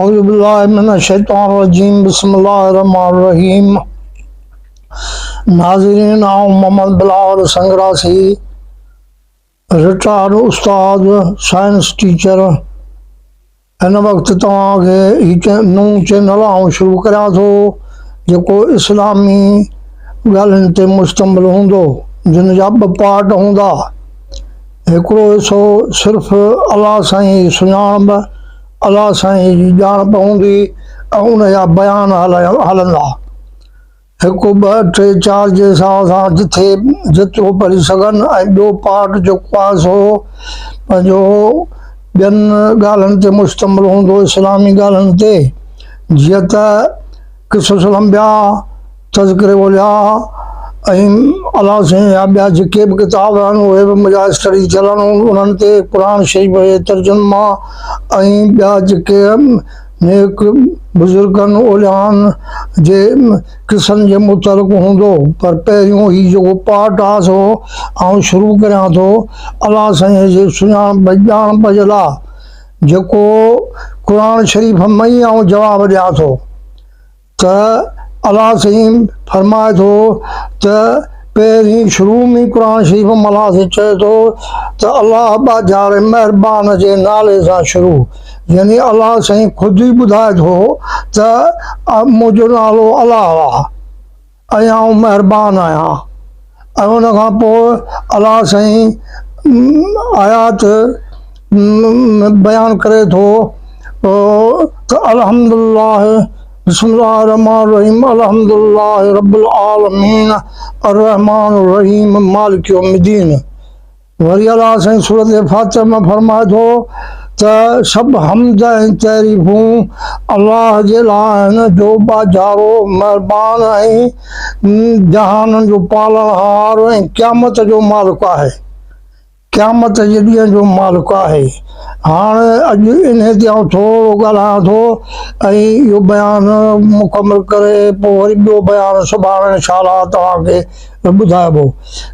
اعوذ بالله من الشيطان الرجيم بسم الله الرحمن الرحيم ناظرين آئون محمد بلاول سنگراسي رٽائرڊ استاد سائنس ٽيچر هن وقت توهان کي هي نون چينل آئون شروع ڪريان ٿو جيڪو اسلامي ڳالهين تي مشتمل هوندو جن جا ٻه پارٽ هوندا هڪڙو حصو صرف الله سائين سڃاڻپ الله سائين جي ڄاڻ پوندي ۽ ان جا بيان هلندا. هڪ ٻه ٽي چار جي حساب سان جٿي جيترو پڙهي سگهن ۽ ٻيو پارٽ جيڪو آهي سو پنهنجو ٻين ڳالهن تي مشتمل هوندو اسلامي ڳالهن تي جيئن ته قصص الانبياء، تذڪري اولياء ۽ الله سائين يا ٻيا جيڪي به ڪتاب آهن اهي به مجاز اسٽڊيز ٿيل آهن انهن تي قرآن شريف جي ترجما ۽ ٻيا جيڪي نيڪ بزرگن اوليائن جي قصن جي متعلق هوندو پر پهريون هي جيڪو پارٽ آهي سو آئون شروع ڪريان ٿو الله سائين جي سڃاڻپ ڄاڻپ جي لاء جيڪو قرآن شريف ۾ ئي آئون جواب ڏيان ٿو. ته الله سيم فرمائي ٿو ته پهرين شروع ۾ قرآن شريف ۾ الله سيم چئي ٿو ته الله ٻاجهاري مهربان جي نالي سان شروع يعني الله سيم خود ئي ٻڌائي ٿو ته منهنجو نالو الله آهي. اڄ آئون مهربان آهيان ۽ ان کان پوء الله سائين آيات بيان ڪري ٿو ته الحمد الله بسم الله الرحمٰن الرحيم الحمد الله رب العالمين الرحمٰن الرحيم مالڪ يوم الدين وري الله سائين سورة فاتحه ۾ فرمائي ٿو ته سڀ حمد ۽ تعريفون الله جي لاء آهن جو ٻاجهارو، مهربان ۽ جهانن جو پالڻهار ۽ قيامت جو مالڪ آهي. قيامت جي ڏينهن جو مالڪ آهي. هاڻ اڄ انهي تي آئون ٿورو ڳالهايان ٿو ۽ اهو بيان مڪمل ڪري پوء وري ٻيو بيان سڀاڻي ان شاء الله توهان کي ۾ ٻڌائبو.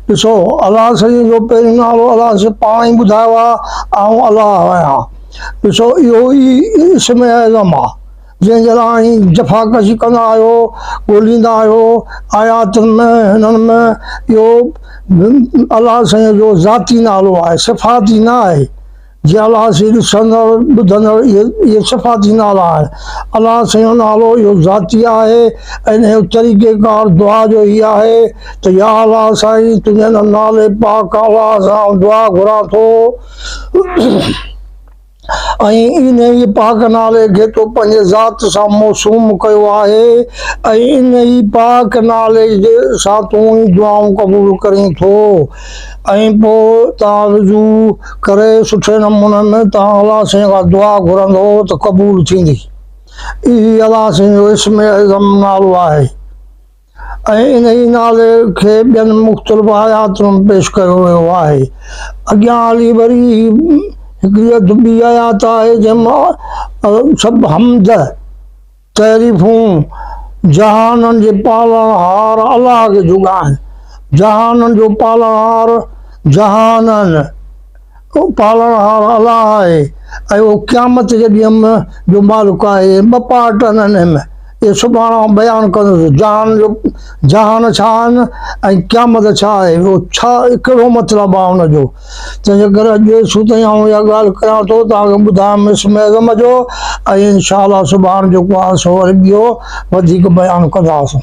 ڏسو، الله سائينء جو پهريون نالو الله سائين پاڻ ئي ٻڌايو آهي، آئون الله آهيان. ڏسو، اهو ئي اسم اعظم آهي، جنهن جي لاء اوهين جفاڪشي ڪندا آهيو، ڳوليندا آهيو. آياتن ۾ هنن ۾ اهو به الله سائينء جو ذاتي نالو آهي، صفاتي نه آهي. جي الله سين ڏسندڙ ٻڌندڙ اهي صفاتي نالا آهن. الله سين جو نالو اهو ذاتي آهي ۽ انهيء جو طريقه ڪار دعا جو هي آهي ته يا الله سائين تنهنجي ان نالي پاڪ اعليٰ سان آئون دعا گهران ٿو ۽ انهيء پاڪ نالي کي تو پنهنجي ذات سان موسوم ڪيو آهي ۽ انهيء پاڪ نالي سان تون ئي دعائون قبول ڪرين ٿو. ۽ پوء تان رجوع ڪري سٺي نموني ۾ تان الله سائين کان دعا گهرندو ته قبول ٿيندي. اهي الله سائين جو اسم اعظم نالو آهي ۽ انهي نالي کي ٻين مختلف آياتن ۾ پيش ڪيو ويو آهي. اڳيان هلي وري هڪڙي اڌ ٻي آيات آهي جنهن مان سڀ حمد. تعريفون جهانن جي پالڻهار الله کي جوڳا آهن. جهانن جو پالڻهار جهانن جو پالڻهار الله آهي ۽ اهو قيامت جي ڏينهن م جو مالڪ آهي ۽ ٻه پارٽ انهن م اهي سڀاڻي آئون بيان ڪندس ته جهانن جو جهان ڇا آهن ۽ قيامت ڇا آهي اهو ڇا ڪهڙو مطلب آهي ان جو. تنهنجي ڪري اڄ دير سوت تائين آئون اها ڳالهه ڪريان ٿو توهان کي ٻڌايم اسم اعظم جو ۽ انشاء الله سڀاڻ جيڪو آهي سو وري ٻيو وڌيڪ بيان ڪنداسون.